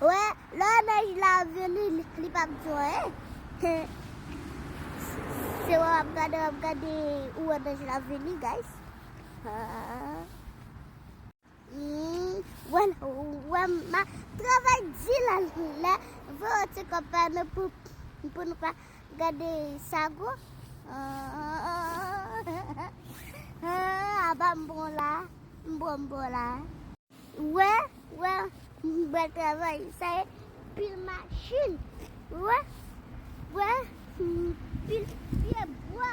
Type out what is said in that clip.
Wè, lè nèj la vini, li pa p di w anyen. Se wè w ap gade, w ap gade, ou wè nèj la vini, guys. Wè, wè, m ap travay di la, lè, vè w ti kòpè nou pou, pou nou pa. Gade sago Aba m bon la M bon m bon la Ou wè Ou wè Bèl travay Sa e pil machin Ou wè Ou wè Pil pyebwa.